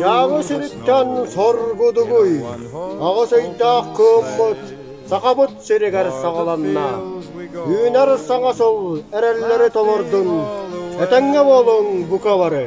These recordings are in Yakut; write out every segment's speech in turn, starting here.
Дьаабы сириттэн соргудугуй, аҕыс ыйдаах куоммут Сахабыт сиригэр саҕаланна. Үүнэр саҥа сыл эрэллэри толордун, этэҥҥэ буолуҥ бука бары!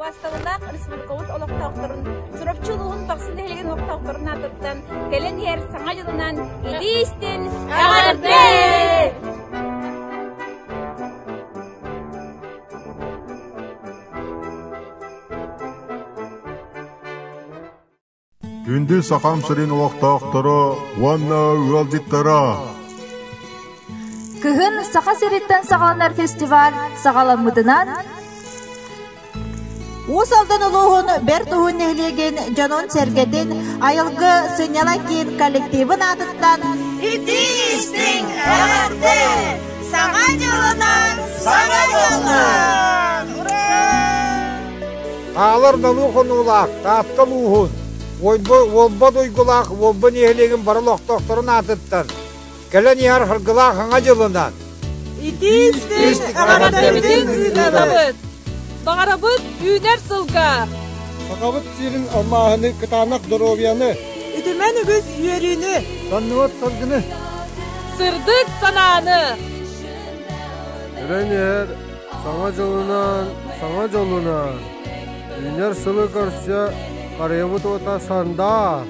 Убаастабыллаах республикабыт олохтоохторун, Чурапчы улууһун Бахсы нэһилигин олохтоохторун аатыттан кэлэн иһэр саҥа дьылынан илии истин эҕэрдэ! Күндү Сахам сирин олохтоохторо уонна ыалдьыттара! Кыһын Саха сириттэн саҕаланар фестиваль саҕаламмытынан Уус Алдан улууһун Бэрт Уһун нэһилиэгин дьонун-сэргэтин Айылгы сынньала киин коллективын аатыттан Ити истиҥ эҕэрдэ! Саҥа дьылынан саҥа буолла! Хаалар далыы хонуулаах Таатта улууһун Уолба Дуйгулаах Уолба нэһилиэгин бары олохтоохторун аатыттан кэлэн иһэр Харгылаах Хаҥа дьылынан Итиис Баҕарабытын ыытабыт! Баҕарабыт үүнэр сылга! Сахабыт сирин алмааһыны, кытаанах доруобуйаны, үтүмэн үгүс үөрүүнү, соннубут сылгыны, сырдык санааны, үрэн иһэр Саҥа дьылынан, саҥа дьолунан үүнэр сылы көрсө харыйабыт уота сандаар!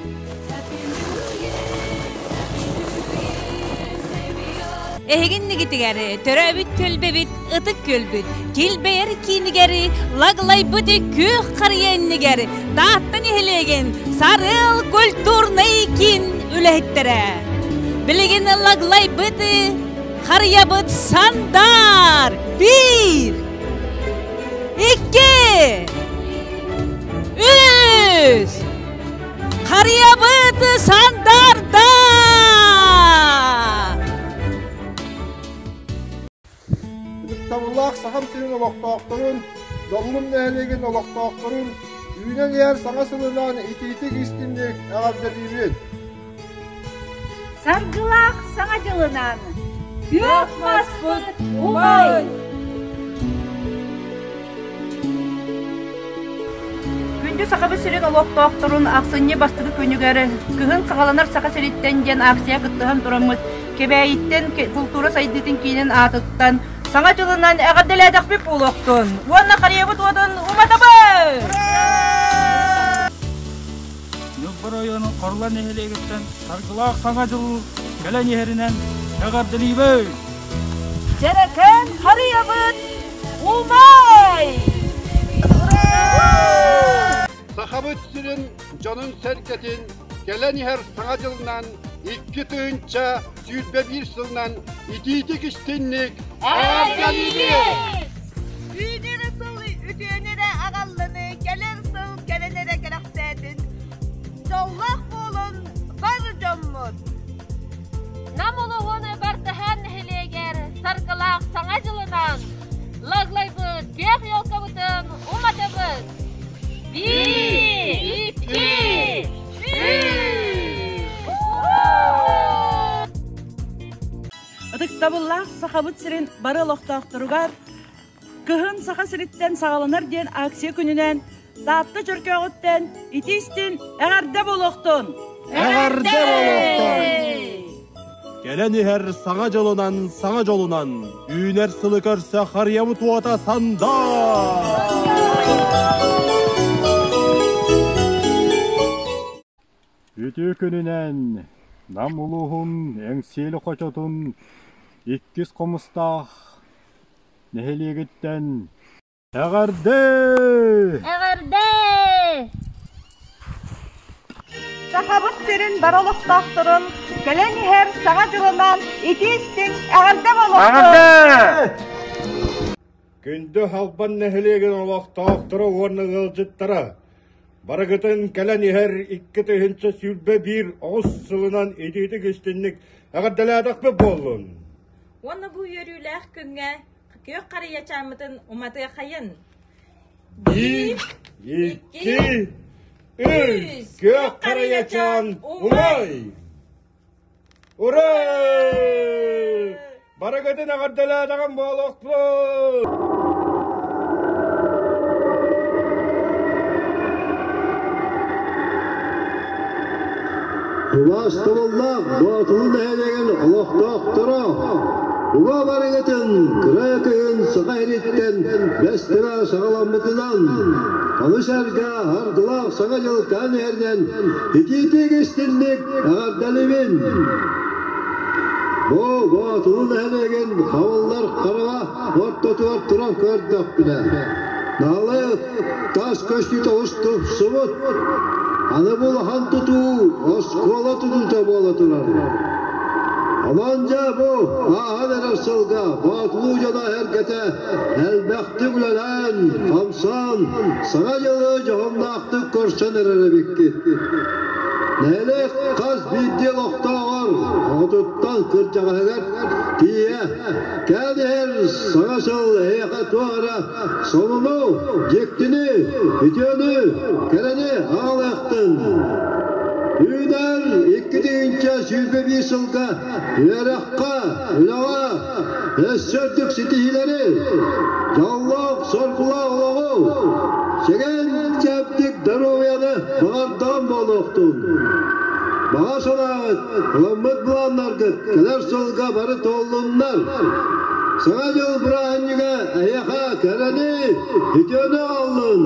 Эһиги иннигитигэр төрөөбүт түөлбэбит ытык күөлбүт килбэйэр киинигэр Лаглайбыты күөх харыйа иннигэр Таатта нэһилиэгин Сарыал культурнай киин үлэһиттэрэ Билигин Лаглайбыты Харыйабыт сандаар! Bir, iki, üç. Харыйабыт сандаарда! Ытыктабыллаах Сахам сирин олохтоохторун, Доллун нэһилиэгин олохтоохторун, үүнэн иһэр саҥа сылынан итиитик истинник эҕэрдэлиибит! Саргылаах Саҥа дьылынаан күөх маспыт умай! Күндү Сахабыт сирин олохтоохторун ахсынньы бастакы күнүгэр Кыһын саҕаланар Саха сириттэн диэн аахсыйа кыттыһан тураммыт Кэбээйиттэн культура сайдыытын киинин аатыттан Саҥа дьылынан эҕэрдэлээтэхпит буолуохтун уонна харыйабыт уотун уматабыт! Ньылбар ойоонун Хорла нэһилиэгиттэн Саргылаах Саҥа дьыл кэлэн иһэринэн эҕэрдэлиибэй! Дьэрэкээн харыйабыт умай! Сахабыт сирин дьонун-сэргэтин кэлэн иһэр Саҥа дьылынан икки тыһыынча сүүрбэ биир сылынан итиитик истинник аарданныбыт! Үүнэр сыл үтүөнү эрэ аҕаллыны кэлэр сыл кэлэн эрэ кэрэхсээтин дьоллоох буолун бар дьоммут Нам олоҕун Бартаһаан нэһилиэгэр саргылаах саҥа дьылынан Лаглайбыт биэх елкабытын уматабыт! Биир! Икки! Ытыктабыллаах Сахабыт сирин бары олохтоохторугар Кыһын Саха сириттэн саҕаланар диэн акция күнүнэн Таатта Чөркөөҕүттэн ити истин эҕэрдэ болуохтун! Эҕэрдэ болуохтун! Кэлэн иһэр саҥа дьылынан саҥа дьолунан үүнэр сылы көрсө харыйабыт уота Үтүө күнүнэн Нам улууһун Эҥсиэли хочотун иккис хомустаах нэһилиэгиттэн Эҕэрдээ! Эҕэрдээ! Сахабыт сирин бары олохтоохторун кэлэн иһэр саҥа дьылынан итии-истиҥ эҕэрдэ болоттун! Күндү Халбан нэһилиэгин олохтоохторо уонна ыалдьыттара барыгытын кэлэн иһэр икки тыһыынча сүүрбэ биир оҕус сылынан итиитик истинник эҕэрдэлээтэхпит буоллун! Уонна бу үөрүүлээх күҥҥэ күөх харыйачааммытын уматыахайын. Бир, икки, үс, күөх харыйачаан умай! Ура! Барыгытын аҕардалаатаҕын буолуохтула! Тулаас тумуллаах Боотулу нэһилиэгин олохтоохторо Уга барыгытын кыра кыһын саха ириттэн бэстэрэ саҕаламмытынан ону сэргэ ардылаах саҥа дьылтаан иһэринэн итиитик истинник эҕэрдэлибин Бу Боотулу нэһилиэгин хабыллар хараҕа ортотугар туран көрдөхпүнэ наалай тас көстүү субут аны булахан тутуу оскуола тутуута буола турар Аман дьэ бу ааһан эрэр сылга Боотулуу дьоно эргэтэ элбэхтик үлэлээн, хамсан, саҥа дьылы дьоһуннаахтык көрсөн эрэр эбиккит. Нэһилиэк хас биирдии олохтооҕор отуттан кырдьаҕаһыгар тиийэ кээн иһэр саҥа сыл эһиэхэ туох эрэ Солуну, дьиктини, үтүөнү, кэрэни аҕалыахтын! Үүнэр икки тыһыынча сүүрбэ сылга үөрэххэ, үлэҕэ өс үрдүк ситиһиилэри, дьоллоох соргулаа олоҕу, сэгэн-чэбдик доруобуйаны баҕардаҕын буолуохтун! Баҕа санааҕыт Ылыммыт былааннаргыт кэлэр сылга бары туоллуннар! Саҥа дьыл бырааһынньыга эһиэхэ кэрэни, үтүөнү аҕаллын!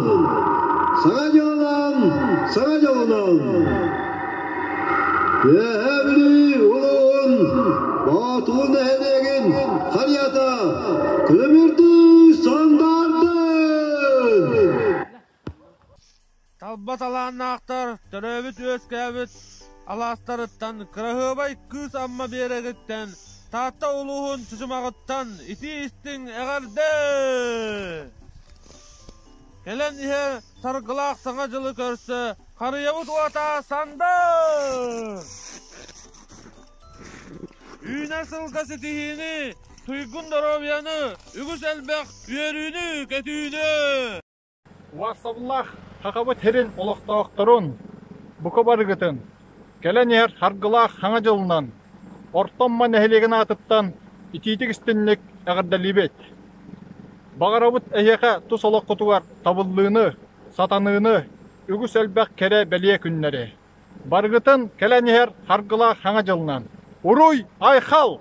Саҥа дьыллаан, саҥа дьылынан! Үөһээ Бүлүү улууһун Боотуун нэһилиэгин харыйата күлүмүрдүү сандаарда! Талба талааннаахтар төрөөбүт үөскээбит алаастарыттан Кыраһыабай Кыыс Амма биэрэгиттэн Таатта улууһун Чучумаҕыттан итии-истиҥ эҕэрдэ! Кэлэн иһэр Саргылаах Саҥа дьылы көрсө харыйабыт уота сандыр! Үүнэ-сылга ситиһиини, туйгун доруобуйаны, үгүс элбэх үөрүүнү-көтүүнү! Уопсабыллаах Сахабыт сирин олохтоохторун, бука барыгытын, кэлэн иһэр Саргылаах Саҥа дьылынан, Орто Амма нэһилиэгин аатыттан итиитик истинник эҕэрдэлиибит! Баҕарабыт эһиэхэ тус олоххутугар табыллыыны, сатаныыны, үгүс элбэх кэрэ-бэлиэ күннэри! Барыгытын кэлэн иһэр Саргылаах Саҥа дьылынан! Уруй-айхал!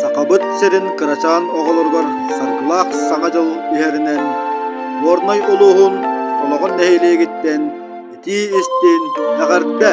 Сахабыт сирин кырачаан оҕолоругар Саргылаах Саҥа дьыл иһэринэн Горнай улууһун Олоҕун нэһилиэгиттэн итии-истиин эҕэрдэ!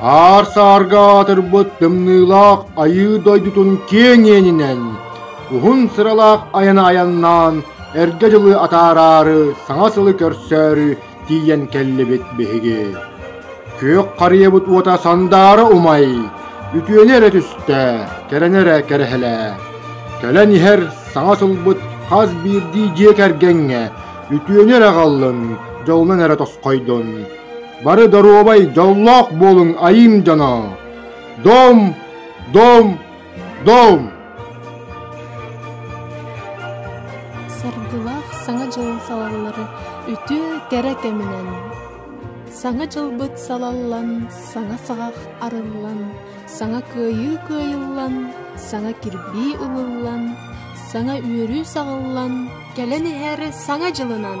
Аар саарга аатырбыт тымныылаах Айыы дойдутун киэҥ иэнинэн, уһун сыралаах айаны айаннаан, эргэ дьылы атаараары саҥа сылы көрсөөрү тиийэн кэллибит биһиги. Күөх харыйабыт уота сандаара умай, үтүөнү эрэ түстэ, кэрэнэ эрэ кэрэһэлээ. Кэлэн иһэр саҥа сылбыт хас биирдии дьиэ кэргэҥҥэ үтүөнү эрэ аҕаллын, дьолунан эрэ тосхойдун. Бары доруобай дьоллоох буолуҥ айым дьоно! Дом, дом, дом! Саргылаах Саҥа дьылын салаллары үтүө кэрэ кэминэн Саҥа дьылбыт салаллан, саҥа саҕах арыллан, саҥа кыайыы кыайыллан, саҥа кирбии ылыллан, саҥа үөрүү саҕыллан, кэлэн иһэр саҥа дьылынан!